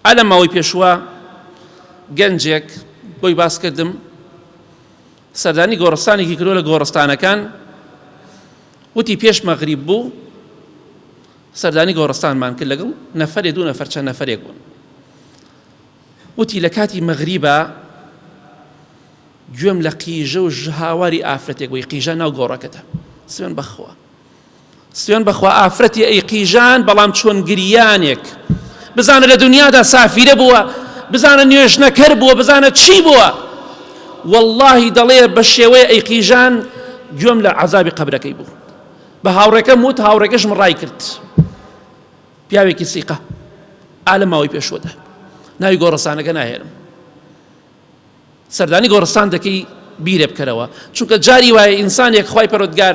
ئا لە ماوەی پێشووە گەنجێک بۆی باس کردم سەردانی گۆڕستانێکی کردوە لە گۆڕستانەکان وتی پێش مەغریب بوو سەردانی گۆڕستانمان کرد لەگەڵ نەفرێ دوو نەفەر چەند نەفرێک بوون وتی لە کاتی مەغریبە گوێم لە قیژە و ژهاواری ئافرەتێک بووی قیژە ناو گۆڕەکەتە سوێن بەخوا سوێن بەخوا ئافرەتی ئەی قیژان بەڵام چۆن گریانێک بزانە لە دنیادا سافیرە بووە بزانە نوێژنەکەر بووە بزانە چی بووە واللهی دەڵێ بە شێوەیە ئەی قیژان گوێم لە عذابی قبرەکەی بوو بە هاوڕێکەم وت هاوڕێکەشم ڕای کرد پیاوێکی سیقە ئالە ماوەی پێشوەدا ناوی گۆڕەسانەکە ناهێنم سەردانی گۆڕستان دەکەی بیرێ بکەرەوە چونکە جاری وایە ئینسانێک خوای پەرۆدگار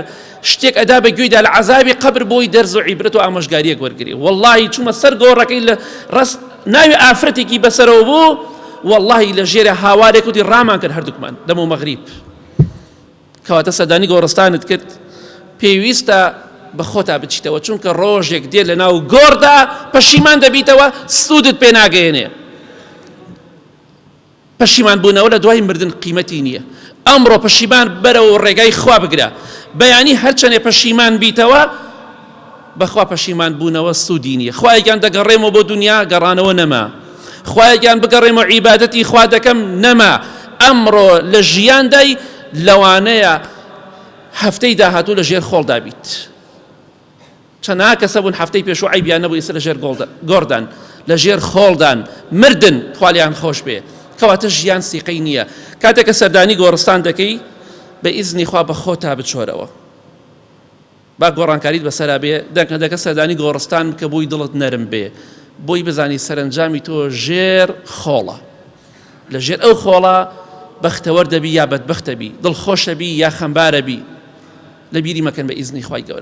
شتێک ئەدا بە گوێیدا لە عذابی قبر بۆی دەرز و عیبرەت و ئامۆژگاریەک وەرگری واللهی چوومە سەر گۆڕەکەی لە ڕست ناوی ئافرەتێکی بەسەرەوە بوو واللهی لە ژێرە هاوارێک وتی ڕامان کرد هەردووکمان دەم و مەغریب کەواتە سەدانی گۆڕستانت کرد پێویستە بە خۆتا بچیتەوە چونکە ڕۆژێک دێ لە ناو گۆڕدا پەشیمان دەبیتەوە سوودت پێ ناگەێنێ پەشیمان بوونەوە لە دوای مردن قیمەتی نییە ئەمڕۆ پەشیمان بەرەوە ڕێگای خوا بگرە بەیانی هەرچەنێ پەشیمان بیتەوە بەخوا پەشیمان بوونەوە سوودی نییە خوایگیان دەگەڕێمەوە بۆ دنیا گەڕانەوە نەما خوایگیان بگەڕێمەوە عیبادەتی خوا دەکەم نەما ئەمڕۆ لە ژیاندای لەوانەیە هەفتەی داهاتوو لە ژێر خۆڵدا بیت چەناا کەسە بوون هەفتەی پێشوو عیبیان نەبوو ئیسە لە ژێر گۆڕدان لە ژێر خۆڵدان مردن خالیان خۆش بێ کەواتە ژیان سیقەی نییە کاتێک کە سەردانی گۆڕستان دەکەی بە ئیزنی خوا بە خۆتا بچۆرەوە با گۆڕانکاریت بەسەرا بێ دەکە دەکە سەردانی گۆڕستان بکە بووی دڵت نەرم بێ بۆی بزانی سەرنجامی تۆ ژێر خۆڵە لە ژێر ئەو خۆڵە بەختەوەر دەبی یا بەدبختەبی دڵخۆشەبی یا خەمبارەبی لە بیری مەکەن بە ئیزنی خی گەورە